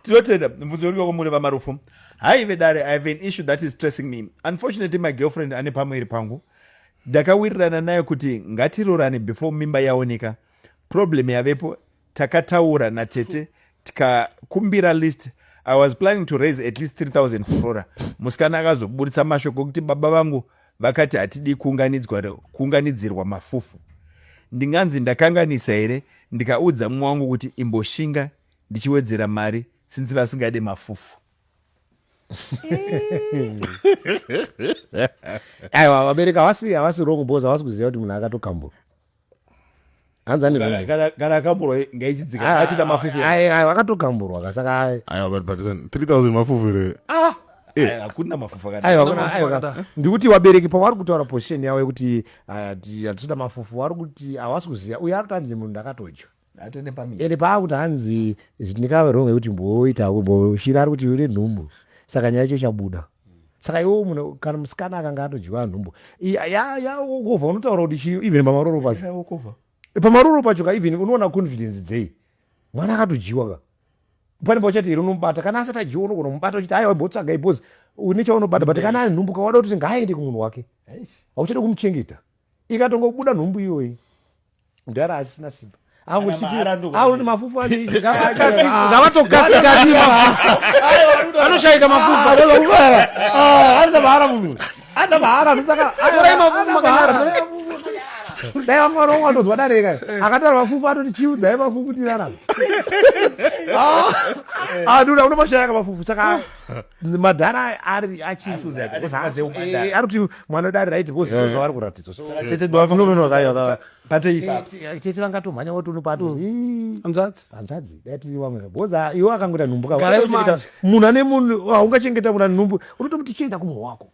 tinotenda mubvunzo uriwe kwamuri vamarufu haive dare i have an issue that is stressing me unfortunately my girlfriend ane pamwe iri pangu ndakawirirana nayo kuti ngatirorane before mimba yaoneka problem yavepo takataura natete tikakumbira list i was planning to raise at least 3000 flora musikana akazoburitsa mashoko okuti baba vangu vakati hatidi kuunganidzirwa mafufu ndinganzi ndakanganisa here ndikaudza mumwe wangu kuti imboshinga ndichiwedzera mari since vasingade mafufu aiwa vabereki havasi havasi wrong bos havasi kuziva kuti munhu akatokambura hanzi ane Kana- kana- kana akamburwa ngaichidzika achida mafufu aiwa akatokamburwa ka saka ai- aiwa but but listen, 3000 mafufu here Eh, hakuna mafufu akadai. aiwa Hakuna kuna- aiwa mafufu ka- ndikuti vabereki pavari kutaura position yavo yekuti ah, ti- hatitoda mafufu vari kuti havasi kuziva uye ari kutanzi munhu ndakatodya ende paakuti hanzi ndikave wrong yekuti mboita shiri ari kuti une nhumbu saka nyaya yacho chabuda saka iwo munhu kana musikana akanga atodyiwa nhumbu yaokova unotaura kuti chii even pamaroro pacho pamaroro pacho ka even unoona confidence dzei mwana akatodyiwa ka pane pauchati here unomubata kana asati adyiwa unogona kumubata uchiti aiwa botsvagai bcause une chaunobata but kana ari nhumbu ka wada kuti ngaaende kumunhu wake hauchade kumuchengeta ikatongobuda nhumbu iyoyi mudhara asisina simba angochitiaone mafufu anoshaika mafufuanoda ah, mahara munhu anoda mahara anosaorai mafufu makanara dai vanga vanomwe atonzwa dareka eh. akatara mafufu atoti chiudzai mafufu tirarama ah, ah, anoda unomashayaka mafufu saka madhara ari achinsuziaarikuti mwana dare raiti vozvavari kuratidzwa tete dwavatete vangatomhanya woti unopatohanzvadzi mm. hanzvadzi dai tiri vamwe bhozi iwo akangoita nhumbu kamunhu ane munhu haungachengeta munhu ane nhumbu unotomuti chienda kumwe wako